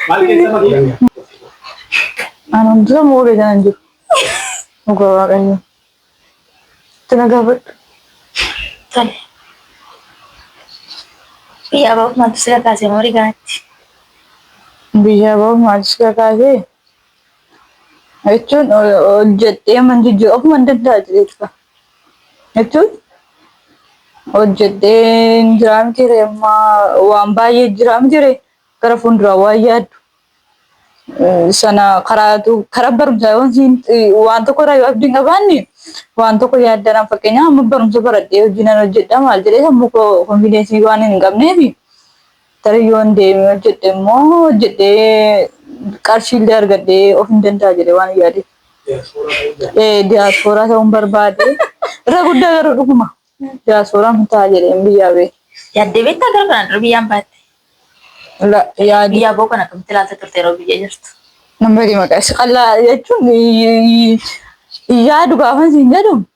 Maal keessa malee? Anaan dura moo beekan hin jiru. Dhugaa waaqayyo. Itti na gaafadhu. Tole. Biyya abaa'uuf maaltu si kakaase moo rigaatti? Biyya abaa'uuf maaltu si kakaase? Jechuun hojjedhee man jijjiiru ofuma hin danda'a jedheetu qaba. jechuun hojjedheen jiraa miti ree amma waan baay'ee jiraa miti ree gara fuulduraa waan yaaddu eh, sana karaatu karaa barumsaa yoo siin eh, waan tokko irraa yoo abdiin qabaanne waan tokko yaaddanaan fakkeenyaaf amma barumsa baradhee hojii nan hojjedha maal jedhee sammuu koo konfideensii waan hin qabneefi Tarii yoon deemee hojjedhe immoo hojjedhee qarshiillee argadhee of hin danda'a jedhee waan yaade. Diyaaspooraa ta'uun barbaade. Irra guddaa garuu dhuguma diyaaspooraan hin ta'a jedhee biyyaa bee. Yaaddee beektaa gara kanaan dura biyyaan baatte? Yaadee. Biyyaa boo kan akkamitti ilaalta turte yeroo biyya jirtu? Namni maqaa isa qal'aa jechuun yaadu gaafa isin jedhu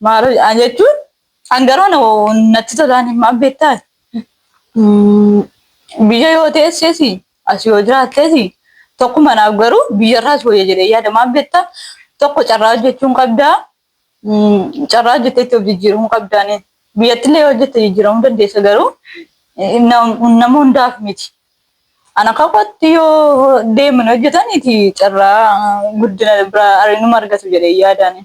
Maalo jedhaan jechuun kan garuu na- natti tolaan hin maal beektaa? Mm, Biyya yoo teessees as yoo jiraattees tokkuma naaf garuu biyyarraas wayya jedhee yaada maal beektaa? Tokko carraa hojjechuun qabdaa. Mm, Carraa hojjettee itti of jijjiiruun qabdaan. Biyyattillee yoo hojjette jijjiiramuu dandeessa garuu eh, nam- nama hundaaf miti. Ana kakootti yoo deemanii hojjetaniiti carraa guddina biraa arginuma argatu jedhee yaadaan.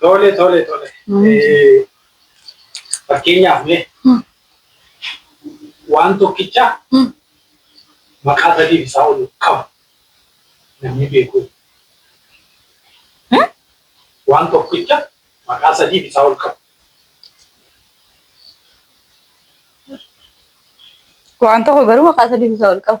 Tole tole tole. Eh, Fakkeenyaaf mee waan tokkicha maqaa sadiif isaa ol qabu namni beeku. Waan tokkicha maqaa sadiif isaa ol qabu. Waan tokko garuu maqaa sadii isaa ol qabu.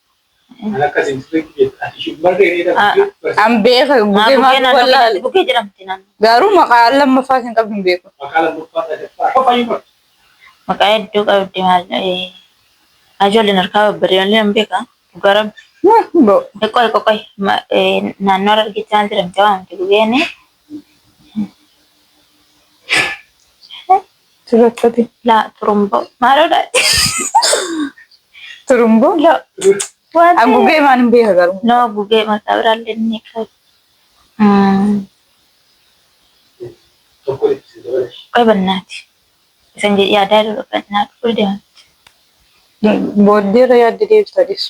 An beeka gugee maaf wallaale. Gugee jedhamti naannoo. Garuu maqaa lammaffaa isin qabdu hin beeku. Maqaa hedduu qabdi maal ta'ee. Ijoolleen harkaa babbadee malee nan beeka. Dhugaa rabbi. Bo- Qoy qoy qoy Ma- eh, naannoo Harargeetti maal jedhamti waamti gugeen? Dubartooti. Laa turumboo. Maaloo dha. Turumboo. Loo. Waan Haguugee maal hin beeka garuu. Noo haguugee maqaa biraan lennee qabu. Qoy bannaati. Isan jedhi yaadaa dura bannaati. Qoy deemti. Booddeerra yaadde deebita dhiisu.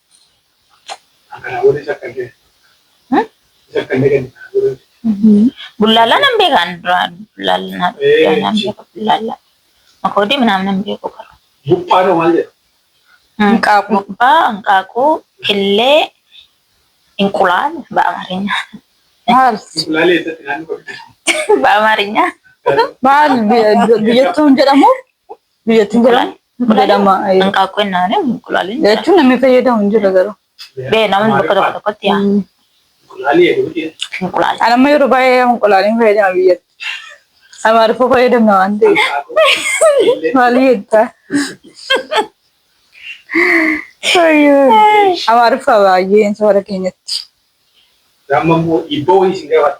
Bullaallaa nan beekaan duraa bullaallaa nan beeka bullaallaa makoodii minaamin nan beeku garuu. Buphaan hoo maal jedhama? Hanqaaquu. Buphaa, hanqaaquu, killee, inqulaal ba'amaarinya. Maal? Inqulaalee eessatti naannoo qabdi? Ba'amaarinya. Maal biyyattuun jedhamu? Biyyattiin jiran jedhama. Hanqaaquu hin naane inqulaaleen. Jechuun namni fayyadamu hin jiru garuu. Bee namni bakka tokko tokkotti yaa. Inqulaala. Ani amma yeroo baay'ee inqulaaliin fayyadama biyyatti. Amaariffaa fayyadamna waan ta'eef. Maal jettaa? Amaariffaa baay'een safara keenyatti. Amma immoo ibboo wayii isin gaafata.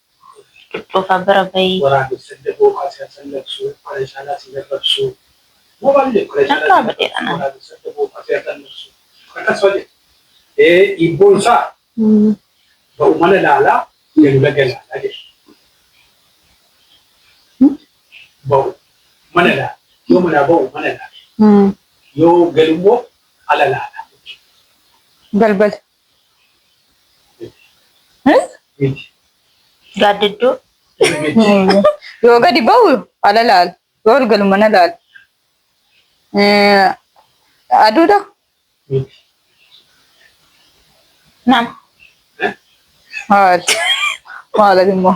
Dhufaa bara bayii. Waraabes sanda bookaa si hasallaqsu Faree saalaa si garrabsu Moobaallee faree saalaa si garrabsu Waraabes sanda bookaa si hasallaqsu Akkas faa jedhu Ee hiibboon isaa Ba'u mana laalaa galu laga laalaa jedha Ba'u mana laala Yoo manaa ba'u mana laala Yoo galu immoo ala laala Balbala. Gaaddidduu. Yoo gadi ba'u ala laal. Yoo ol galu mana laal. Aduudha. Nama. Maal? Maal immoo?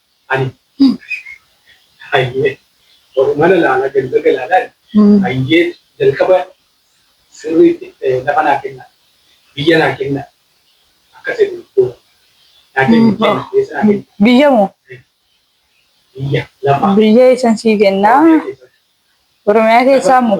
Ani. Hayyee. Oromana laalaa ganda galaadhaan hayyee jalqaba sirriitti lafa naa kennaa biyya naa kennaa akka seetan booda naa kenni kenni keessa naa kenni Biyya moo? biyya lafa Biyya eessan sii kennaa? Oromiyaa keessaa. Oromiyaa keessaa moo?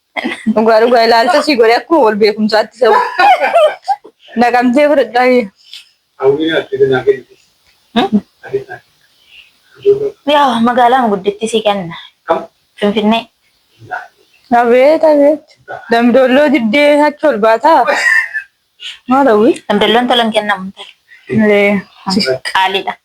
Dhugaa dhugaa ilaalcha sii godhe akkuma wal beekumsaatti sa'u. Naqamtee fudhadhaa kiyya. Hawwiin ati danaa kennitis. Ati danaa ijoollee Yaa magaalaan gudditti si kenna. kam? Finfinnee. Abeet abeet. Damdoolloo diddee achi ol baataa. Maal hawwii? Damdalloon tolan kennamu. Ee, Qaaliidha.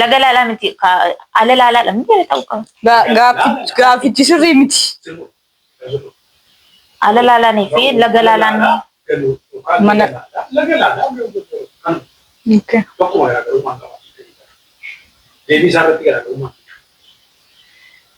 Laga laalaa miti. Ala laalaadha. Miti ta'uu qaba. Gaaffichi sirrii miti. Ala laalaanii fi laga laalaan mana. Laga laalaa tokkuma garaagarummaa qaba. Deebii isaa irratti garaagarummaa.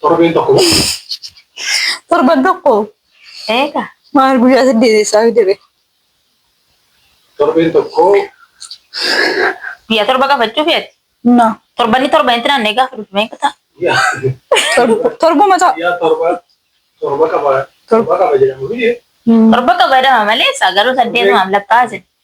Torbeen tokko moo? Torban tokko Eega. maal guyyaa saddeet eessaa fidere? Torbeen tokko Guyyaa torba qabachuuf yaadde. Na Torbanni torbanitti naannee gaafa dhufu meeqa ta'a? yaa torb- torbuma ta'a. yaa torba torba qaba torba qaba jedhamu biyye. Torba qaba jedhama malee isaa garuu saddeetumaaf lakkaa'asin.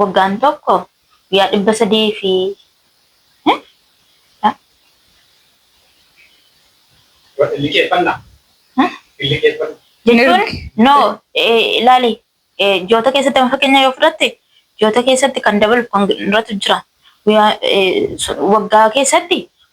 waggaan tokko guyyaa dhibba sadii fi eh, ah, Liqeeffannaa. Hah? Liqeeffannaa. jechuun Ergi. no eh, ilaali eh, joota keessatti amma fakkeenya yoo fudhatte joota keessatti kan dabalu kan irratti jira guyyaa eh, sun- waggaa keessatti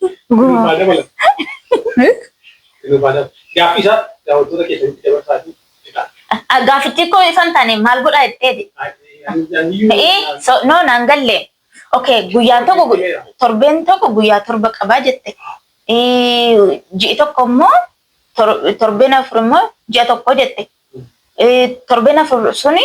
Dhuunfaa dabala. Dhuunfaa dabala. Gaaffii isaa daawwattoota keessanitti dabarsaa fi jedhaa. Gaaffichi koo isan taane maal godhaa jetteeti? Ee, so, no, naan galle. Okay, guyyaan tokko gu- torbeen tokko guyyaa torba qabaa jette. Ee, Ji'i tokko immoo tor- torbeen afur immoo ji'a tokko jette. Ee, Torbeen afur suni